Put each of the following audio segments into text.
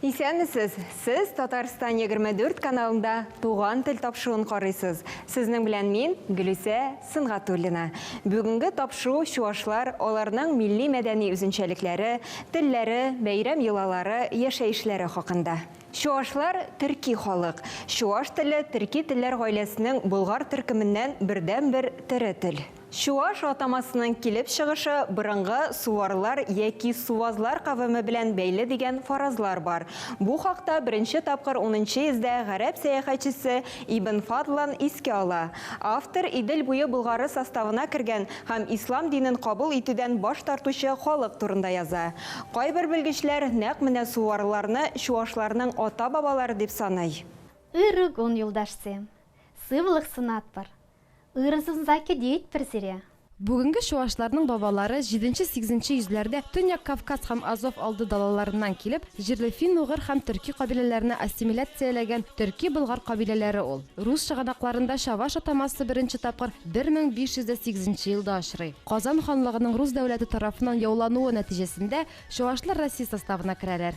Исәнмесез! Сез Татарстан 24 каналында Туган тел тапшыуын карыйсыз. Сезнең белән мин, Гөлүсә Сөнгатуллина. Бүгенге тапшыу чуашлар, аларның милли-мәдәни үзенчәлекләре, телләре, бәйрәм-йолалары, яшәешләре хакында. Чуашлар, төрки халык. Чуаш теле, төрки телләр гаиләсенең болгар төркеменнән бердәнбер тере тел. Чуаш атамасының килеп чыгышы борынгы суварлар яки сувазлар кавеме белән бәйле дигән фаразлар бар. Бу хакта беренче тапкыр унынчы йөздә гарәп сәяхәтчесе Ибн Фадлан искә ала. Автор Идел буе болгары составына кергән һәм ислам динен кабул итүдән баш тартучы халык турында яза. Кайбер белгечләр нәкъ менә суварларны чуашларның ата-бабалары дип саный. Ыры гон юлдашсем, сывлых сынатпыр, Ырзынзаки диит бер зирә. Бүгенге чуашларның бабалары җиденче-сигезенче йөзләрдә Төньяк Кавказ һәм Азов алды далаларыннан килеп, җирле фин-угыр һәм төрки кабиләләрне ассимиляцияләгән төрки-болгар кабиләләре ул. Рус чыганакларында чаваш атамасы беренче тапкыр бер мең биш йөз дә сигезенче елда очрый. Казан ханлыгының рус дәүләте тарафыннан яулануы нәтиҗәсендә чуашлар Россия составына керәләр.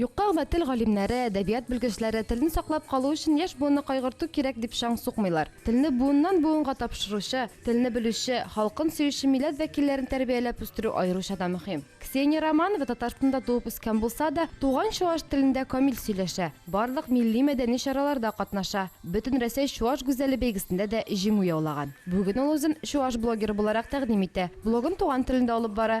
Юкка гына тел галимнәре, әдәбият белгечләре телне саклап калу өчен яшь буынны кайгырту кирәк дип чаң сукмыйлар. Телне буыннан-буынга тапшыручы, телне белүче, халкын сөюче милләт вәкилләрен тәрбияләп үстерү аеруча да мөһим. Ксения Романова Татарстанда туып үскән булса да, туган чуаш телендә камил сөйләшә, барлык милли-мәдәни чараларда катнаша, Бөтенрәсәй чуаш гүзәле бәйгесендә дә җиңү яулаган. Бүген ул үзен чуаш блогеры буларак тәкъдим итә, блогын туган телендә алып бара.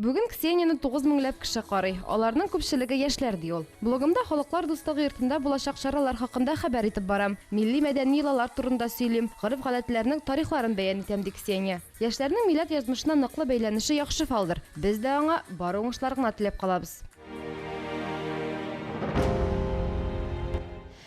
Бүген Ксенияне тугыз меңләп кеше карый. Аларның күпчелеге яшьләр, ди ул. Блогымда Халыклар дуслыгы йортында булачак чаралар хакында хәбәр итеп барам. Милли-мәдәни йолалар турында сөйлим, гореф-гадәтләрнең тарихларын бәян итәм, ди Ксения. Яшьләрнең милләт язмышына ныклы бәйләнеше яхшы фалдыр. Без дә аңа бары уңышлар гына теләп калабыз.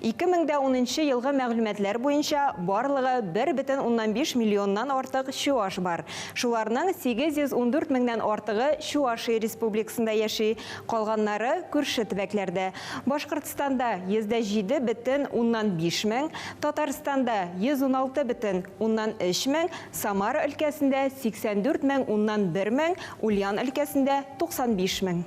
Ике мең дә унынчы елгы мәгълүматлар буенча, барлыгы бер бөтен уннан биш миллионнан артык чуаш бар. Шуларның 814 меңнән артыгы Чуашия Республикасында яши, калганнары, күрше төбәкләрдә. Башкортстанда, 107 бөтен уннан биш мең, Татарстанда, 116 бөтен уннан өч мең, Самара өлкәсендә, 84 мең уннан бер мең, Ульян өлкәсендә, 95 мең.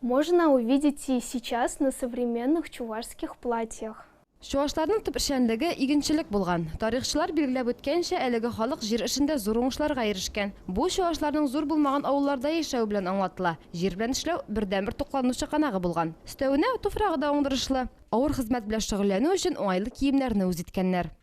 Можно увидеть и сейчас на современных чувашских платьях. Чувашларның төп эшчәнлеге, игенчелек булган. Тарихчылар билгеләп үткәнчә, әлеге халык җир эшендә зур уңышларга ирешкән. Бу, чувашларның зур булмаган авылларда яшәве белән аңлатыла. Җир белән эшләү, бердәнбер туклану чыганагы булган. Өстәвенә, туфрагы да уңдырышлы. Авыр хезмәт белән шөгыльләнү өчен уңайлы киемнәрне үз иткәннәр.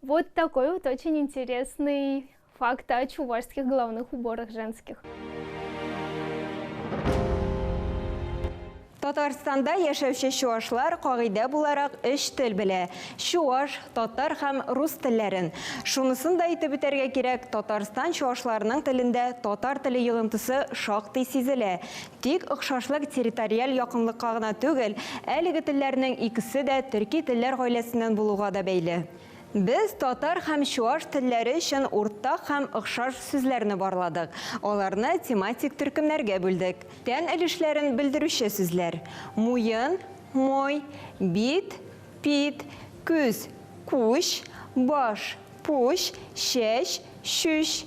Вот такой вот очень интересный факт о чувашских головных уборах женских. Татарстанда яшәүче чуашлар кагыйдә буларак өч тел белә. Чуаш, татар һәм рус телләрен. Шунысын да әйтеп үтәргә кирәк, Татарстан чуашларының телендә татар теле йогынтысы шактый сизелә. Тик охшашлык территориаль якынлыкка гына түгел, әлеге телләрнең икесе дә төрки телләр гаиләсеннән булуга да бәйле. Без татар һәм чуаш телләре өчен уртак һәм охшаш сүзләрне барладык, аларны тематик төркемнәргә бүлдек. Тән өлешләрен белдерүче сүзләр, муен, мой, бит, пит, күз, куч, баш, пуч, чәч, чүч,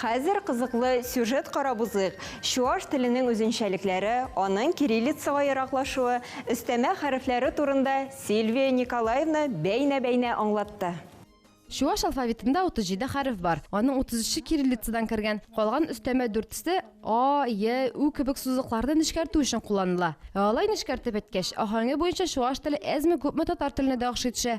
Хәзер кызыклы сюжет карап узыйк, чуаш теленең үзенчәлекләре, аның кириллицага ераклашуы, өстәмә хәрефләре турында Сильвия Николаевна бәйнә-бәйнә аңлатты. Чуаш алфавитында 37 хәреф бар, аның 33-е кириллицадан кергән, калган өстәмә дүртесе а, е, ү кебек сузыкларны нечкәртү өчен кулланыла. Ә алай нечкәртеп әйткәч, аһәңе буенча чуаш теле әзме-күпме татар теленә дә охшый төшә.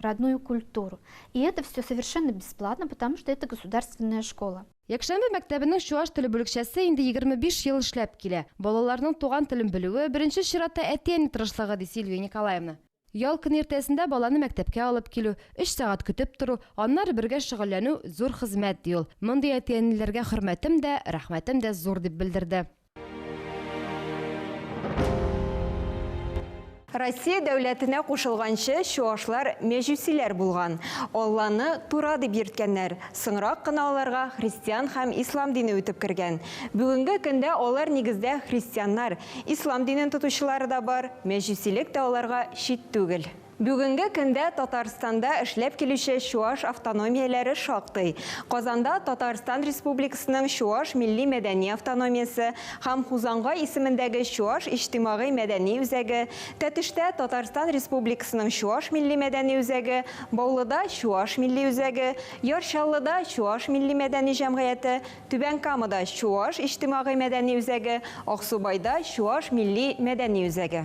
родную культуру. И это все совершенно бесплатно, потому что это государственная школа. Якшәмбе мәктәбенең чуаш теле бүлекчәсе инде 25 ел эшләп килә. Балаларның туган телен белүе, беренче чиратта әти-әни тырышлыгы, ди Сильвия Николаевна. Ял көне иртәсендә баланы мәктәпкә алып килү, өч сәгать көтеп тору, аннары бергә шөгыльләнү зур хезмәт, ди ул. Мондый әти-әниләргә хөрмәтем дә, рәхмәтем дә зур, дип белдерде. Россия дәүләтенә кушылганчы чуашлар мәҗүсиләр булган. Алланы Тура дип йөрткәннәр. Соңрак кына аларга христиан һәм ислам дине үтеп кергән. Бүгенге көндә алар нигездә христианнар, ислам динен тотучылары да бар, мәҗүсилек тә аларга чит түгел. Бүгенге көндә Татарстанда эшләп килүче чуаш автономияләре шактый. Казанда Татарстан Республикасының Чуаш милли-мәдәни автономиясе һәм Хузангай исемендәге Чуаш иҗтимагый-мәдәни үзәге, Тәтештә Татарстан Республикасының Чуаш милли-мәдәни үзәге, Баулыда Чуаш милли үзәге, Яр Чаллыда Чуаш милли-мәдәни җәмгыяте, Түбән Камада Чуаш иҗтимагый-мәдәни үзәге, Аксубайда Чуаш милли-мәдәни үзәге.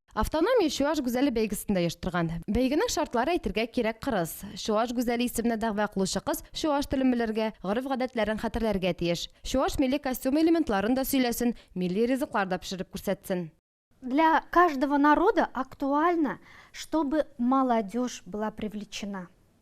Автономия Чуаш гүзәле бәйгесен дә оештырган. Бәйгенең шартлары әйтергә кирәк кырыс. Чуаш гүзәле исеменә дәгъва кылучы кыз чуаш телен белергә, гореф-гадәтләрен хәтерләргә тиеш. Чуаш милли костюмы элементларын да сөйләсен, милли ризыклар да пешереп күрсәтсен. Для каждого народа актуально, чтобы молодежь была привлечена.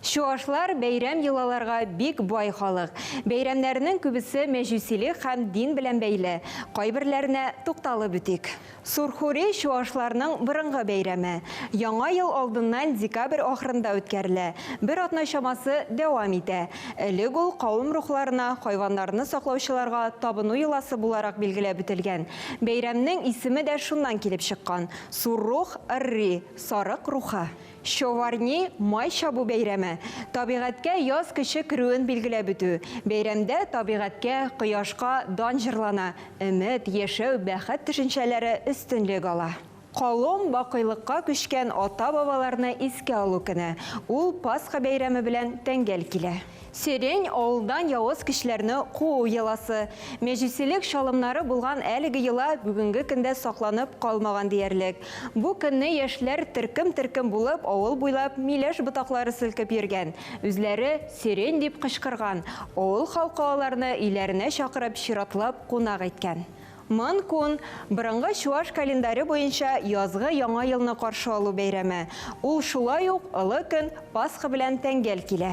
Чуашлар, бәйрәм йолаларга бик бай халык. Бәйрәмнәренең күбесе мәҗүсилек һәм дин белән бәйле. Кайберләренә тукталып үтик. Сурхури, чуашларның борынгы бәйрәме. Яңа ел алдыннан декабрь ахырында үткәрелә, бер атна чамасы дәвам итә. Элек ул кавым рухларына, хайваннарны саклаучыларга табыну йоласы буларак билгеләп үтелгән. Бәйрәмнең исеме дә шуннан килеп чыккан, Суррух, Рри, сарык рухы. Щоварний май чабу бәйрәме, табигатькә яз көче керүен билгеләп үтү. Бәйрәмдә табигатькә, кояшка дан җырлана, өмет, яшәү, бәхет төшенчәләре өстенлек ала. Колом, бакыйлыкка күчкән ата-бабаларны искә алу көне. Ул Пасха бәйрәме белән тәңгәл килә. Сирень, авылдан явыз көчләрне куу йоласы. Мәҗүсилек чалымнары булган әлеге йола бүгенге көндә сакланып калмаган диярлек. Бу көнне яшьләр төркем-төркем булып авыл буйлап миләш ботаклары селкеп йөргән, үзләре Сирень дип кычкырган, авыл халкы аларны өйләренә чакырып чиратлап кунак иткән. Мын кун, борынгы чуаш календаре буенча язгы яңа елны каршы алу бәйрәме. Ул шулай ук олы көн, Пасха белән тәңгәл килә.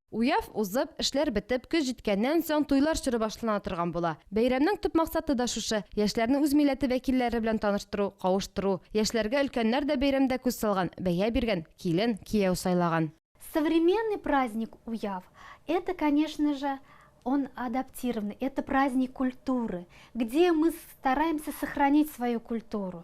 Уяв узып, эшләр бетеп, көз җиткәннән соң, туйлар чоры башлана торган була. Бәйрәмнең төп максаты да шушы, яшьләрне үз милләте вәкилләре белән таныштыру, кавыштыру. Яшьләргә өлкәннәр дә бәйрәмдә күз салган, бәя биргән, килен, кияү сайлаган. Современный праздник Уяв, это, конечно же, он адаптированный, это праздник культуры, где мы стараемся сохранить свою культуру.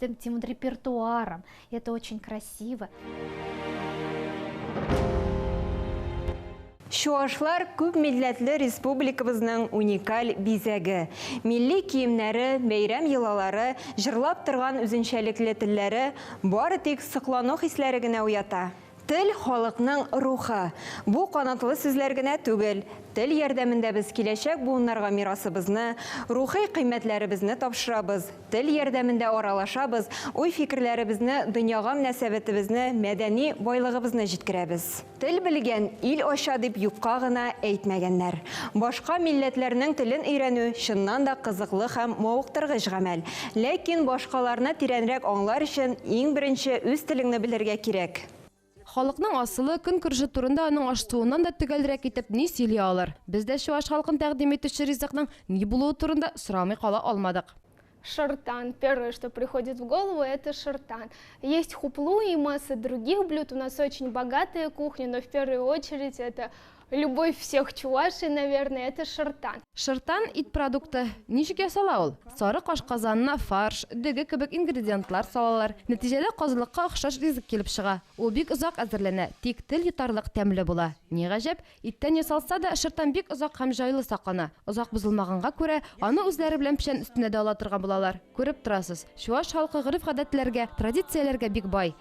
тем, тем репертуаром. Это очень красиво. Чуашлар күп милләтле республикабызның уникаль бизәге. Милли киемнәре, бәйрәм йолалары, җырлап торган үзенчәлекле телләре бары тик соклану хисләре генә уята. Тел, халыкның рухы. Бу канатлы сүзләр генә түгел. Тел ярдәмендә без киләчәк буыннарга мирасыбызны, рухи кыйммәтләребезне тапшырабыз. Тел ярдәмендә аралашабыз, уй-фикерләребезне, дөньяга мөнәсәбәтебезне, мәдәни байлыгыбызны җиткерәбез. Тел белгән, ил ача дип юкка гына әйтмәгәннәр. Башка милләтләрнең телен өйрәнү, чыннан да кызыклы һәм мавыктыргыч гамәл. Ләкин башкаларны тирәнрәк аңлар өчен иң беренче үз телеңне белергә кирәк. Халыкның асылы, көнкүреше турында аның аш-суыннан да төгәлрәк итеп ни сөйли алыр? Без дә чуаш халкын тәкъдим итүче ризыкның ни булуы турында сорамый кала алмадык. Шыртан, первое, что приходит в голову, это шыртан. Есть хуплу и масса других блюд, у нас очень богатая кухня, но в первую очередь это Любовь всех чувашей наверное это шыртан. Шыртан, ит продукты. Ничек ясала ул? Сарык ашказанына фарш, дөге кебек ингредиентлар салалар. Нәтиҗәдә казылыкка охшаш ризык килеп чыга. Ул бик озак әзерләнә, тик тел йотарлык тәмле була. Ни гаҗәп, иттән ясалса да, шыртан бик озак һәм җайлы саклана. Озак бозылмаганга күрә, аны үзләре белән печән өстенә дә ала торган булалар. Күреп торасыз, чуаш халкы гореф-гадәтләргә, традицияләргә бик бай.